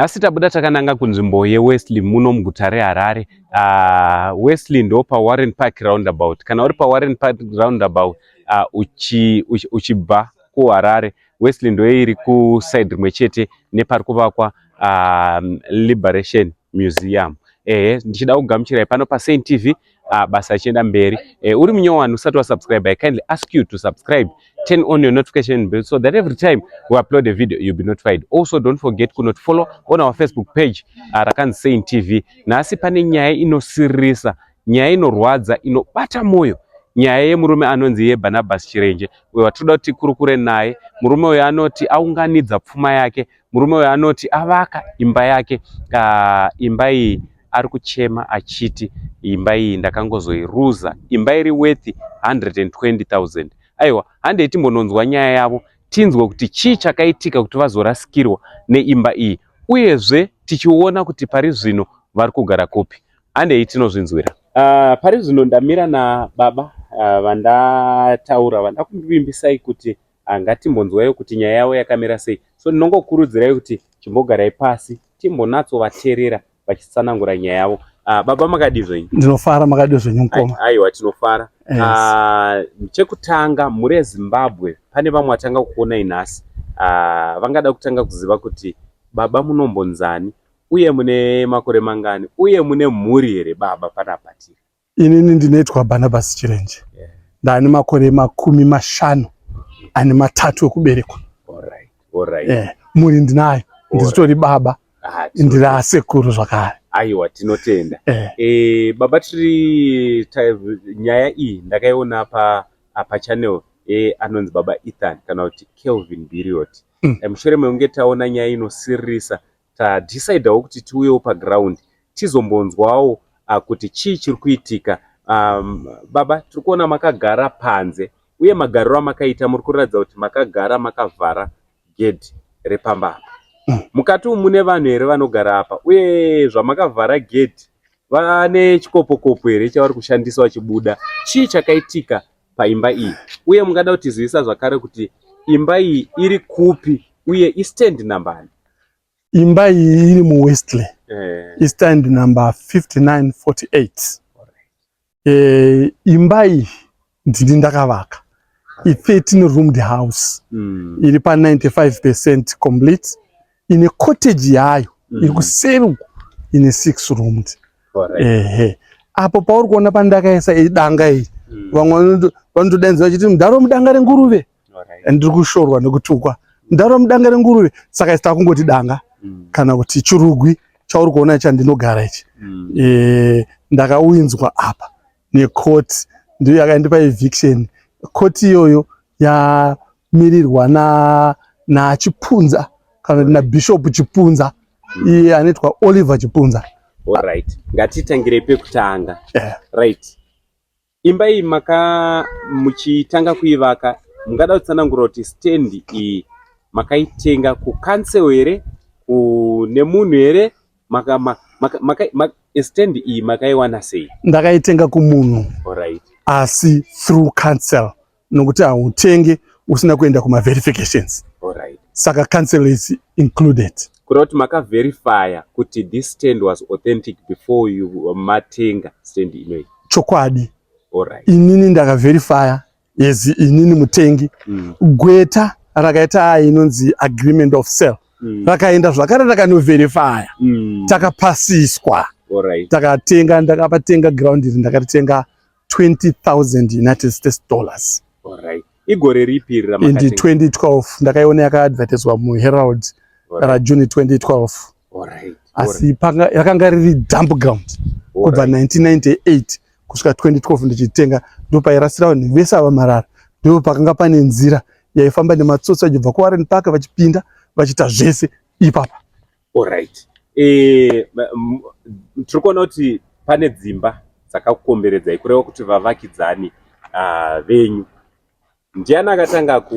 Nhasi tabuda takananga kunzvimbo yeWesley muno muguta reHarare. Uh, Wesley ndo paWarren Park roundabout. Kana uri paWarren Park roundabout uh, uchi, uchi, uchibva kuHarare, Wesley ndo iri kuside rimwe chete nepari kuvakwa uh, Liberation Museum. Ehe, ndichida kugamuchirai pano paSaint TV uh, basa richienda mberi uh, uri munyowani usati wasubscribe i kindly ask you to subscribe turn on your notification bell so that every time we upload a video you'll be notified also don't forget kunoti follow on our facebook page uh, rakanzi sain tv nhasi pane nyaya inosiririsa nyaya inorwadza inobata mwoyo nyaya yemurume anonzi yebarnabas chirenje uyo watinoda kuti tikurukure naye murume uyo anoti aunganidza pfuma yake Murume uyu anoti avaka imba yake uh, imba iyi ari kuchema achiti imba iyi ndakangozoiruza imba iri worth 120000 aiwa handei timbononzwa nyaya yavo tinzwe kuti chii chakaitika kuti vazorasikirwa neimba iyi uyezve tichiona kuti pari zvino vari kugara kupi handei tinozvinzwira uh, pari zvino ndamira nababa uh, vandataura vandakuvimbisai kuti Ah, ngatimbonzwaiwo kuti nyaya yavo yakamira sei so ndinongokurudzirai kuti chimbogarai pasi timbonatsovateerera vachitsanangura nyaya yavo ah, baba makadii zvenyu ndinofara makadii zvenyu mukoma aiwa tinofara yes. ah, chekutanga mhuri yezimbabwe pane vamwe vatanga kukuonai nhasi ah, vangada kutanga kuziva kuti baba munombonzani uye mune makore mangani uye mune mhuri here baba panapa tiri Inini ndinoitwa Barnabas Chirenje. Yeah. Ndani makore makumi mashanu ane matatu ekuberekwa. All right. All right. Yeah. Muri ndinayo. Ndizitori baba. Ah, ndiri asekuru zvakare. Aiwa tinotenda. Eh. Eh, baba tiri nyaya iyi ndakaiona pa apa channel eh, anonzi baba Ethan kana kuti Kelvin Biriot. Mm. Eh, mushure mekunge taona nyaya inosiririsa tadecidawo kuti tiuyewo paground tizombonzwawo uh, kuti chii chiri kuitika um, baba tiri kuona makagara panze uye magariro amakaita muri kuratidza kuti makagara makavhara gedhi repamba apa mm. mukati umu mune vanhu here vanogara apa uye zvamakavhara gedhi vane chikopokopo here chavari kushandisa vachibuda chii chakaitika paimba iyi uye mungada kutizivisa zvakare kuti imba iyi iri kupi uye istand nambani Imba iyi iri mu Westley. Eh. I stand number 5948. Eh, imba iyi ndini ndakavaka. I 13 roomed house. Mm. Iri pa 95% complete. Ine cottage yayo mm. iri kuseri uko ine 6 roomed. Ehe. Eh. Apo pauri kuona pandakaisa idanga iyi. Mm. Vamwe vanotodenza vachiti mudharo mudanga renguruve. and ndiri kushorwa nekutukwa ndaro mudanga renguruve saka isi takungoti danga mm. kana kuti chirugwi chauri kuona icha ndinogara ichi mm. e, ndakauinzwa apa nekoti ndiyo yakaindipa eviction koti iyoyo yamirirwa na nachipunza kana kuti nabishop chipunza mm. iye anoitwa oliver chipunza right ngatitangire pekutanga yeah. right Imba iyi maka muchitanga kuivaka mungada kutsanangura kuti stand iyi makaitenga ku council here kune munhu here maka, maka, maka, maka, maka, stand iyi makaiwana sei? Ndakaitenga kumunhu. Alright. Asi through council. nokuti hautenge usina kuenda kuma verifications Alright. saka cancel is included kureva kuti makaverifya kuti this stand was authentic before you matenga stand inoyi chokwadi Alright. inini ndakaverifya yes inini mutengi mm. gweta rakaita ayi inonzi agreement of sale mm. rakaenda zvakare rakanoverifya mm. takapasiswa Alright. takatenga ndakapatenga ground iri ndakaritenga 20,000 United States dollars. All right. Igore ripi iri ramakatenga? Indi 2012 ndakaiona yakaadvertiswa muHerald right. ra June 2012. All right. Asi panga yakanga riri dump ground All kubva right. 1998 kusvika 2012 ndichitenga ndopairasira vanhu vese ava marara ndipo pakanga pane nzira yaifamba nematsotsi vachibva kuWarren Park vachipinda vachita zvese ipapa. Alright. Eh, tiri kuona kuti pane dzimba dzakakukomberedzai kureva kuti vavakidzani uh, venyu ndiani akatanga ku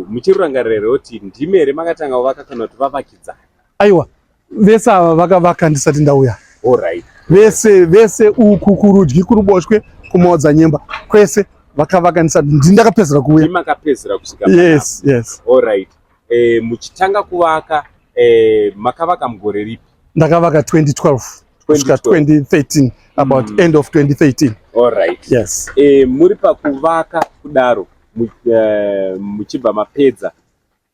muchirurangarira here kuti ndimi here makatanga kuvaka kana kuti vavakidzani aiwa vese ava vakavaka ndisati ndauya Alright. vese vese uku kurudyi kuruboshwe kumaodza nyemba kwese vakavaka ndisati ndakapedzera kuuya Ndimi makapedzera kusvika yes, yes. Alright. eh, muchitanga kuvaka eh, makavaka mugore ripi ndakavaka 2012 kusvika 2013 about mm. end of 2013 all right yes eh, muri pakuvaka kudaro eh, muchibva mapedza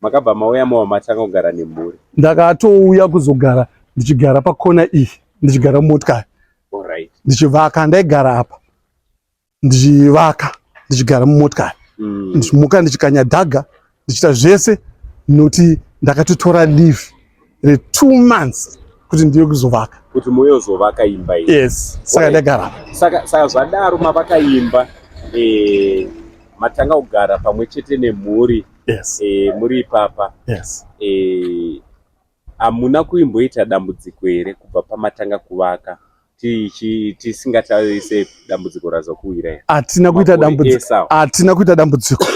makabva mauya mava matanga kugara nemhuri ndakatouya kuzogara ndichigara pakona iyi ndichigara mumotikari ndichivaka ndaigara apa ndichivaka ndichigara mumotikari mm. ndichimuka ndichikanya dhaga ndichiita zvese noti ndakatotora live retwo months kuti ndiye kuzovaka kuti moyozovaka imba iyi yes saka ndagara saka saka zvadaro mavaka imba eh, matanga kugara pamwe chete nemhuri yes eh, muri ipapa yes eh, Hamuna kuimboita dambudziko here kubva pamatanga kuvaka tisingatarise dambudziko razokuwira here? Hatina kuita dambudziko, hatina kuita dambudziko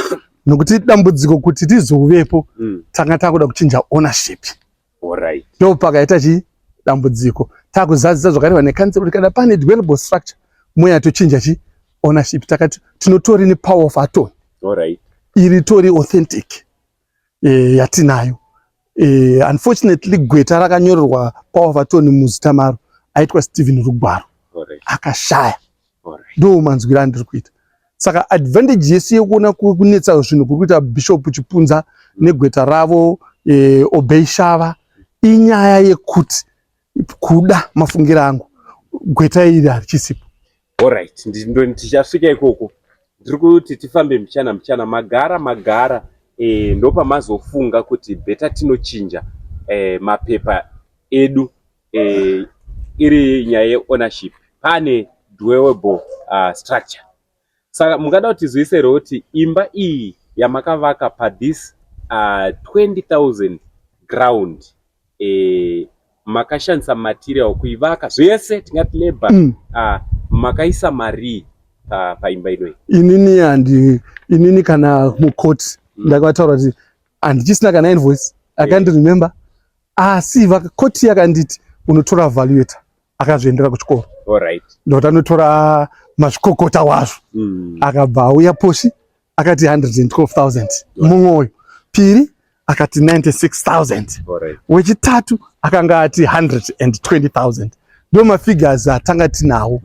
nokuti dambudziko kuti tizovepo mm. tanga takuda kuchinja ownership right. ndo pakaita chi dambudziko takuzadzisa zvakareva nekanzero kuti kana pane developable structure moya tochinja chi ownership takati tinotori nepower of atony right. iri tori authentic eh, yatinayo eh, unfortunately gweta rakanyorerwa paovatoni muzita maro aitwa stephen rugwaro akashaya ndo manzwira andiri kuita saka advantage yesu yekuona kunetsa zvinhu kuri kuita bishop chipunza negweta ravo eh, obeyshava inyaya yekuti kuda mafungiro angu gweta iri harichisipo orit ndichasvika ikoko ndiri kuti tifambe mbichana mbichana magara magara e, ndopamazofunga kuti beta tinochinja e, mapepa edu e, iri nyaya yeownership pane dwelable uh, ah, structure Saka mungada kuti tizoise here kuti imba iyi yamakavaka pathis uh, 20000 ground eh, makashandisa material kuivaka zvese tingati labor mm. uh, makaisa marii pa, paimba inoyi inini andi inini kana mucourt mm. ndakavataura kuti handichisina kana invoice akandiremember yeah. asi vakakoti yakanditi unotora valuator akazviendera kuchikoro ndokuti anotora mazvikokota wazvo mm. akabva auya posi akati 112000 mumwe uyu piri akati 96000 wechitatu akanga ati 120000 ndo mafigures atanga tinawo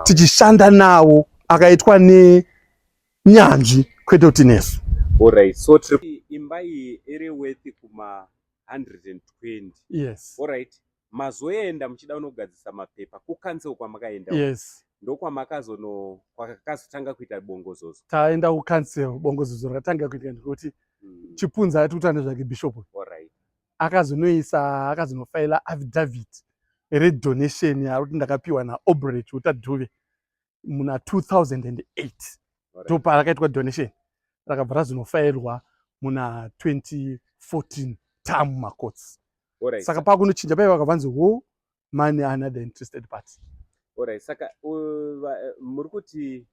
tichishanda nawo akaitwa nenyanzvi kwete kuti nesu Alright, so trip imba iyi iri worth kuma 120. Yes. Alright. mazoenda muchida unogadzisa mapepa kucancel kwamakaenda yes ndokwamakazono kwakazotanga kuita bongozozo taenda kucancel bongozozo rakatanga kuitika ndikuti mm. chipunza ati kutanda zvake bishop right. akazonoisa akazonofaila affidavit redonation yaari kuti ndakapiwa naobret utadhuve muna 2008 topa rakaitwa donation rakabva razinofairwa muna 2014 tamu macots right. saka pakunochinja paiva vakavanzi wo money another interested party orit saka eh, muri kuti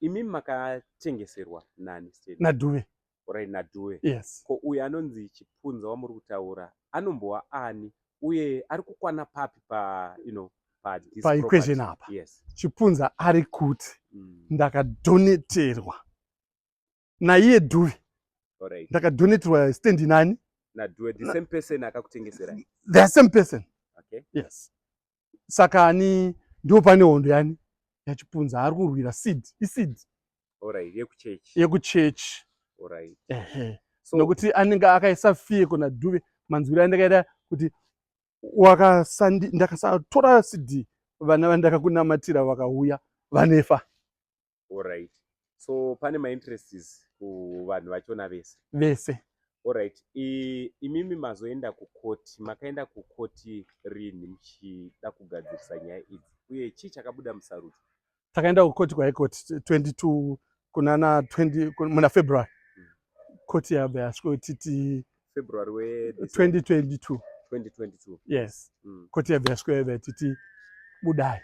imi makachengeserwa nani naduve orit nadue yes ko uyo anonzi chipunza wamuri kutaura anombowa ani uye ari kukwana papi pa you know pa this pa equation property? apa yes chipunza ari kuti mm. ndakadoneterwa naiye due orit ndakadoneterwa stand nani nadue the same person akakutengeserai the same person okay yes saka ani ndipo pane hondo yani yachipunza ari kurwira seed iseed right, yekuchechi yekuchechi right. ehe so, nokuti anenge akaisa fie kuna dhuve manzwiro andakaita kuti ndakasatora cd vana vandakakunamatira vakauya vanefa Alright. So pane ma interests kuvanhu vachona vese. Vese. Alright. I, imimi mazoenda kukoti, makaenda kukoti rini muchida kugadzirisa nyaya idzi uye chii chakabuda musarudzo? Takaenda kukoti kwa Court 22 kunana 20 muna February. Hmm. Koti yabva yasviko titi February we 2022. 2022. Yes. Mm. Koti yabva yasviko yabva titi budai.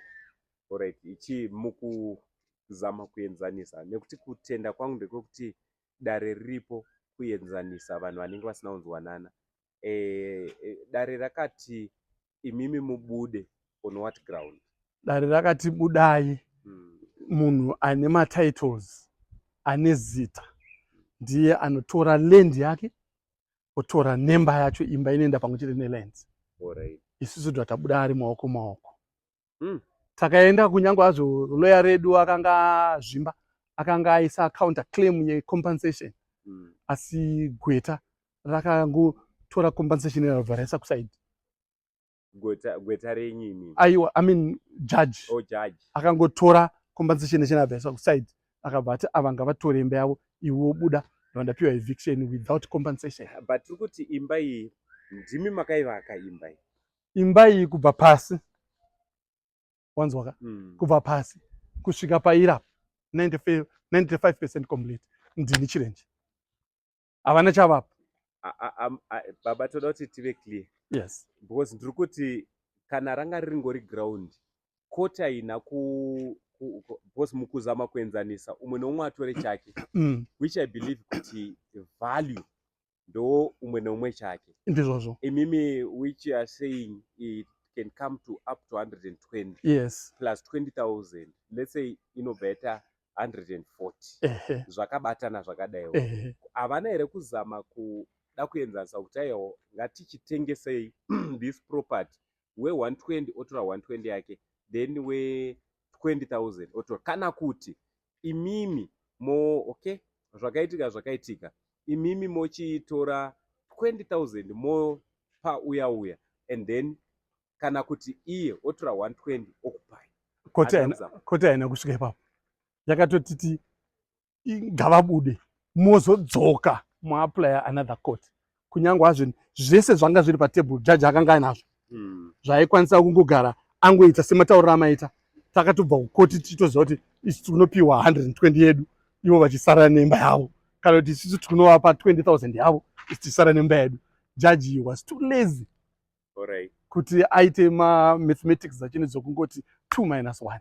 Alright, ichi mukuzama kuenzanisa nekuti kutenda kwangu ndekwekuti dare riripo kuenzanisa vanhu vanenge vasina kunzwanana. E, e, dare rakati imimi mubude on what ground? Dare rakati budai hmm. munhu ane matitles ane zita ndiye anotora land yake otora nemba yacho imba inoenda pamwe chete neland. Alright. Isusu tabuda ari maoko maoko. mm. takaenda kunyange azvo loya redu akanga zvimba akanga aisa counter claim yecompensation mm. asi gweta rakangotora compensation rabva raisa kusaidi gweta renyini aiwa i mean judge oh, judge akangotora compensation yachina abva yaisa kusaidi akabva ati ava ngavatore imba yavo iwo buda vandapiwa eviction without compensation but tiri kuti imba iyi ndimi makaivaka imba iyi imba iyi kubva pasi wanzwaka mm. kubva pasi kusvika paira 95 percent complete ndini chirenje havana chavapa baba toda kuti tive clear yes because ndiri kuti kana ranga riringori ground koti haina ku because mukuzama kuenzanisa umwe neumwe atore chake mm. which i believe kuti value ndowo umwe neumwe chake ndizvozvo imimi which are saying it can come to up to 120 yes plus 20000 let's say inobva yaita 140 zvakabatana zvakadaiwo havana here kuzama kuda kuenzanisa kuti aiwo ngatichitengesei this property we 120 otora 120 yake then we 20000 otora kana kuti imimi mo okay zvakaitika zvakaitika imimi mochitora 20000 mopa uya uya and then kana kuti iye otora 120 okupai koti haina kusvika ipapo yakatotiti ngavabude mozodzoka muaplya another court kunyange hazvo zvese zvanga zviri patable jaji akanga ainazvo hmm. zvaikwanisa kungogara angoita sematauriro amaita takatobva kukoti tichitoziva kuti isu tinopiwa 120 yedu ivo vachisara nemba yavo kana kuti isisu tinovapa 20000 yavo isu tichisara nemba yedu jaji was too lazy right. kuti aite mamathematics achine dzokungoti two minus one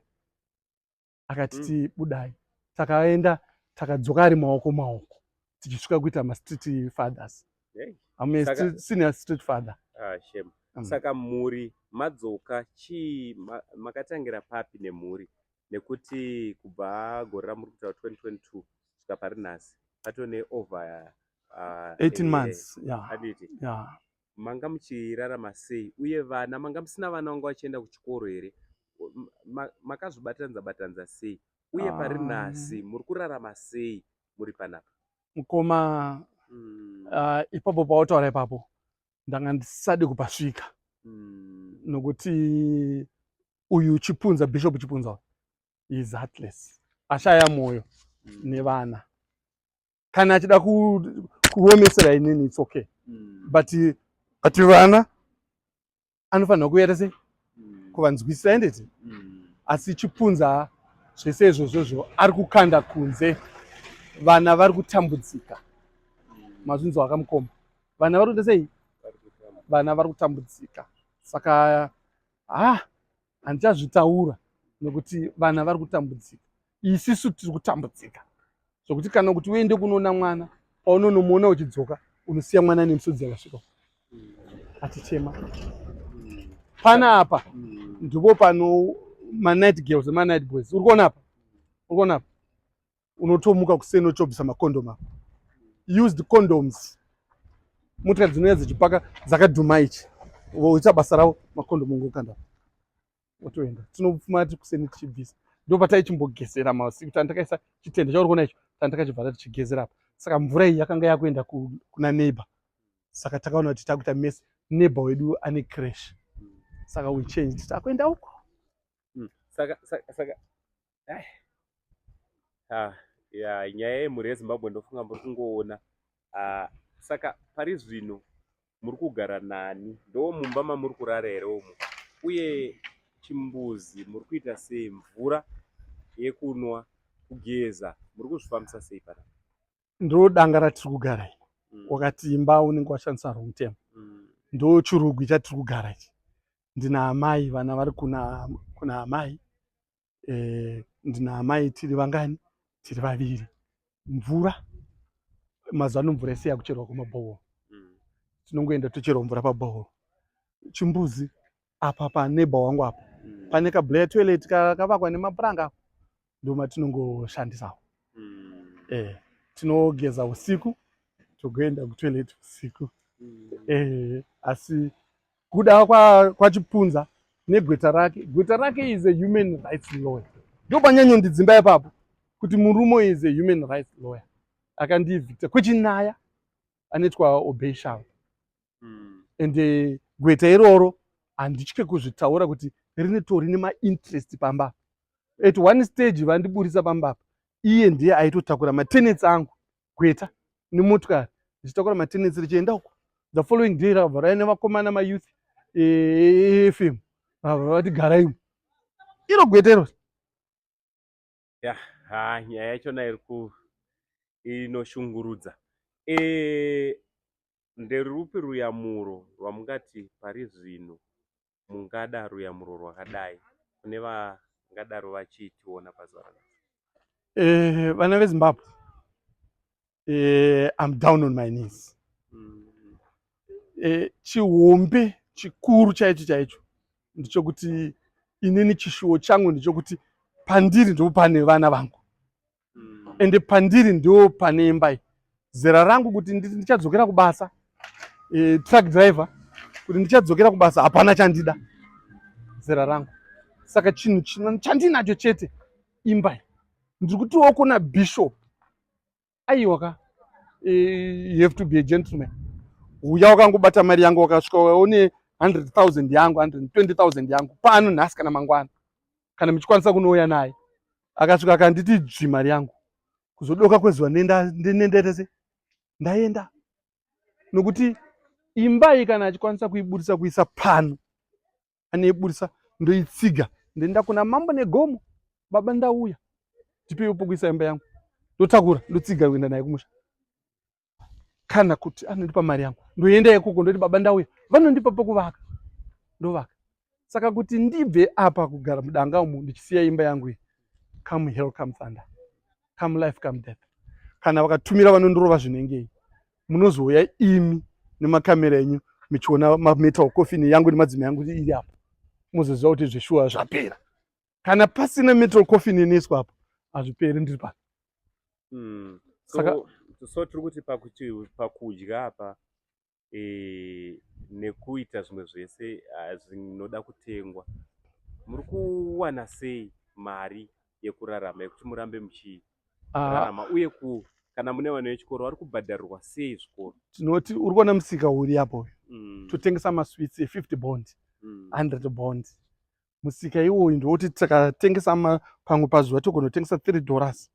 akati mm. tibudai takaenda takadzoka ari maoko maoko tichisvika kuita mastreet fathers ame saka... senior street father ah, shame. Mm. saka mhuri madzoka chii ma, makatangira papi nemhuri nekuti kubva gore ramuri kutaura 2022 svika pari nhasi patone over uh, 18 months yeah. yeah. manga muchirarama sei uye vana manga musina vana vanga vachienda kuchikoro here makazvibatanidza batanidza sei uye pari ah. nhasi muri kurarama sei muri panapa mukoma mm. uh, ipapo pautaura ipapo ndanga ndisadi kupasvika mm. nokuti uyu chipunza bishop chipunza is heartless ashaya mwoyo mm. nevana kana achida kuomesera inini its okay mm. but but vana anofanirwa kuita sei mm. kuvanzwisisa endeti mm. asi chipunza zvese izvozvozvo ari kukanda kunze vana vari kutambudzika mazvinzi wakamukoma vana vari kuita sei vana vari kutambudzika saka ha handichazvitaura nekuti vana vari kutambudzika isisu tiri kutambudzika zvokuti kana kuti uende kunoona mwana paunonomuona uchidzoka unosiya mwana nemusodzi yakasvika achichema pana apa ndipo pano manight girls manight boys uri kuona apa uri kuona apa unotomuka kuseni ochobvisa macondom apo used condoms motikari dzinouya dzichipaka dzakadhuma ichi voita basa ravo macondom ngokanda otoenda tinofuma ti kuseni tichibvisa ndo pataichimbogesera masiku tandakaisa chitende chauri kuona icho tandakachibvata tichigezera apa saka mvura iyi yakanga yakuenda kuna neighbor saka takaona kuti takuita mese neighbor wedu ane crash saka we changed takuenda uko hmm. saka saka saka ah, yeah, nyaya yemhuri yezimbabwe ndofunga muri kungoona ah, saka pari zvino muri kugara nani ndoo mumba mamuri kurara here umo uye chimbuzi muri kuita sei mvura yekunwa kugeza muri kuzvifambisa sei pana ndo danga ratiri kugara ii mm. wakati imba unenge washandisa wrong term mm. ndo chirugwi chatiri kugara ichi ndina amai vana vari kuna kuna amai eh, ndina amai tiri vangani tiri vaviri mvura mazuva ano mvura yese yakucherwa kumabhohoro mm. tinongoenda tocherwa mvura pabhohoro chimbuzi apa paneba wangu apa mm. pane kablayer toilet kakavakwa nemapuranga ndomatiningooshandisawo mm. eh, tinogeza usiku togoenda kutoilet usiku mm. eh, asi kuda kwachipunza negweta rake gweta rake is a human rights lawyer ndopanyanyo ndidzimba ipapo kuti murumo is a human rights lawyer akandievicta kwechinyaya anoitwa obeshal hmm. and eh, gweta iroro handitye kuzvitaura kuti rinotori nemainterest pamba at one stage vandiburitsa pambapa iye ndiye aitotakura matenets angu gweta nemotikari ndichitakura matenensi richienda uko the following day rakabva raine vakomana mayouth efm eh, vabva vati garaimo iro gweta iro ya ha nyaya yachona iri ku inoshungurudza e, nderupi ruyamuro rwamungati pari zvino mungada ruyamuro rwakadai kune vangadaro vachitiona pazuva ranhasi eh, vana vezimbabwe eh, im down on my knees mm. eh, chihombe chikuru chaicho chaicho ndichokuti inini chishuwo changu ndichokuti pandiri ndipo pane vana vangu mm. ende pandiri ndo pane imba iyi zera rangu kuti ndichadzokera kubasa e, truck driver kuti ndichadzokera kubasa hapana chandida zera rangu saka chinhu chino chandinacho chete imba iyi ndiri kutiwo kuna bishop aiwa ka e, you have to be a gentleman uya wakangobata mari yangu wakasvika waone 100,000 yangu 120,000 yangu pano nhasi kana mangwana kana muchikwanisa kunouya naye akasvika akanditi dzvi mari yangu kuzodoka kwezuva nendaendese ndaenda nokuti imba iyi kana achikwanisa kuiburitsa kuisa pano anoiburitsa ndoitsiga ndoenda kuna mambo negomo baba ndauya ndipeiwo pokuisa imba yangu ndotakura ndotsiga kuenda naye kumusha kana kuti anondipa mari yangu ndoenda ikoko ndoti baba ndauya vanondipa pokuvaka ndovaka saka kuti ndibve apa kugara mudanga umu ndichisiya imba yangu iyi come hell come thunder come life come death kana vakatumira vanondorova zvinengei munozouya imi nemakamera enyu michiona mametal coffin yangu nemadzima yangu iri apo mozoziva kuti zveshuwa zvapera kana pasina metal coffin inoiswa apo hazviperi ndiri pano hmm. saka so tiri kuti pakuti pakudya apa e, nekuita zvimwe zvese ah, zvinoda kutengwa muri kuwana sei mari yekurarama yekuti murambe muchirarama ah. uye ku kana mune vana vechikoro vari kubhadharirwa sei zvikoro tinoti uri kuona musika uri apo uyu mm. totengesa maswits e50 bond 100 mm. bond musika iwoyu ndiwoti tikatengesa pamwe pazuva togonotengesa three dollars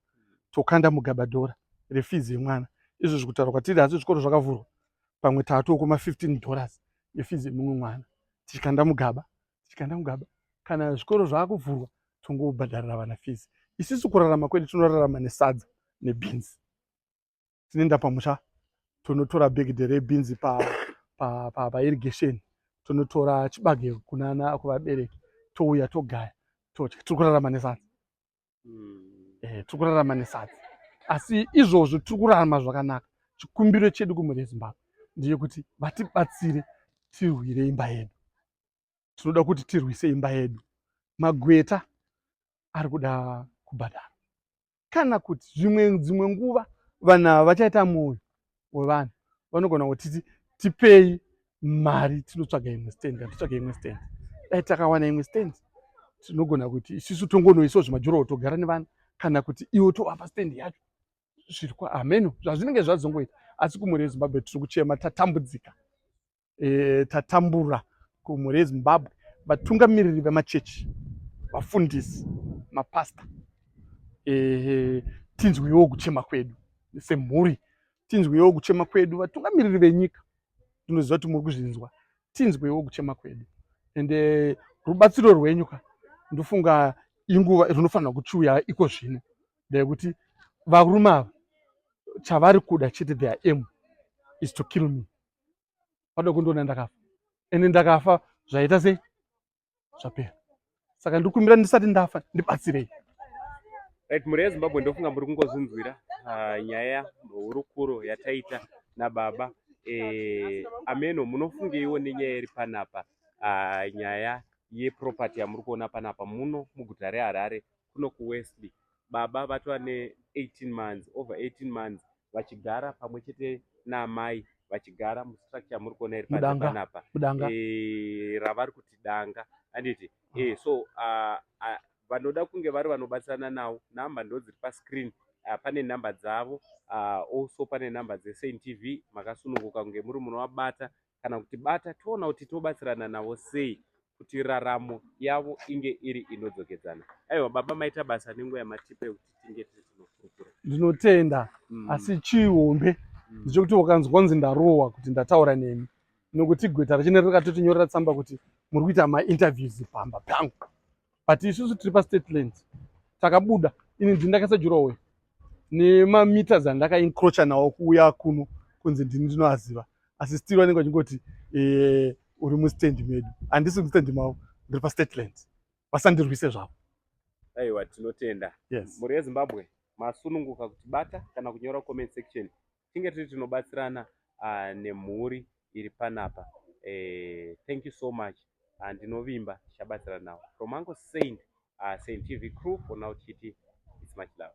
tokanda mugabadhora refizi yemwana izvo zvikutaura kwatiri asi zvikoro zvakavhurwa pamwe tatoko ma15 dollars efizi yemumwe mwana tichikanda mugaba tichikanda mugaba kana zvikoro zvaakuvhurwa tongobhadharira vana fizi isisu kurarama kwedu tinorarama nesadza nebhinzi tinoenda pamusha tonotora bhegidhe rebhinzi pairrigation pa, pa, pa tonotora chibage kunana kuvabereki touya togaya todya tiri kurarama nesadza hmm. eh, tiri kurarama nesadza asi izvozvo tiri kurarama zvakanaka chikumbiro chedu kumhuri yezimbabwe ndiye kuti vatibatsire tirwire imba yedu tinoda kuti tirwise imba yedu magweta ari kuda kubhadhara kana kuti zvimwe dzimwe nguva vanhu ava vachaita mwoyo wevanhu vanogona kutiti tipei mari tinotsvaga imwe stand kana titsvaga imwe stand dai takawana imwe stand tinogona kuti isisu tongonoisawo zvimajurawo togara nevanhu kana kuti iwo tovapa stand yacho zvirikwa hameno zvazvinenge zvazongoita asi kumhuri yezimbabwe tiri kuchema tatambudzika e, tatambura kumhuri yezimbabwe vatungamiriri vemachechi vafundisi mapasta e, tinzwiwo kuchema kwedu semhuri tinzwiwo kuchema kwedu vatungamiriri venyika tinoziva kuti muri kuzvinzwa tinzwewo kuchema kwedu and eh, rubatsiro rwenyu ka ndofunga inguva rinofanira kuchiuya iko zvino ndeyekuti varume ava chavari kuda chete their aim is to kill me vada kundiona ndakafa ende ndakafa zvaita sei zvapera saka ndikumbira ndisati ndafa ndibatsirei right mhuri yezimbabwe ndofunga muri kungozvinzwira ah, nyaya hurukuro yataita nababa eh, ameno munofungeiwo nenyaya iri panapa ah, nyaya yeproperty yamuri kuona panapa muno muguta reharare kuno kuwesley baba vatova ne 18 months over 18 months vachigara pamwe chete naamai vachigara mustructure muri kuona iri panapa eh, ravari kuti danga anditi ah. eh, so ah, ah, vanoda kunge vari vanobatsirana nawo namba ndo dziri pascreen uh, pane nhamba dzavo uh, also pane nhamba dzesaint tv makasununguka kunge muri munovabata kana kuti bata toona kuti tobatsirana navo sei kuti raramo yavo inge iri inodzokedzana aiwa baba maita basa nenguva yamatipe kuti tinge tiri tinofurukura ndinotenda mm. asi chihombe mm. ndichokuti ukanzwa kunzi ndarohwa kuti ndataura nemi nokuti gweta rachine rakatotinyorera tsamba kuti muri kuita mainterviews pamba pangu but isusu tiri pastate lands takabuda ini ndini ndakaisa jurowe nemameters andakaincrocha nawo kuuya kuno kunzi ndini ndinoaziva asi still vanenge vachingoti eh, uri mustendi medu handisi mustendi mavo ndiri pastate lands vasandirwise zvavo aiwa tinotenda yes. mhuri yezimbabwe masununguka kutibata kana kunyora comment section tinge tiri tinobatsirana uh, nemhuri iri panapa eh, thank you so much uh, ndinovimba tichabatsirana nawo from uncle saint uh, saint tv crew for now chiti it's much love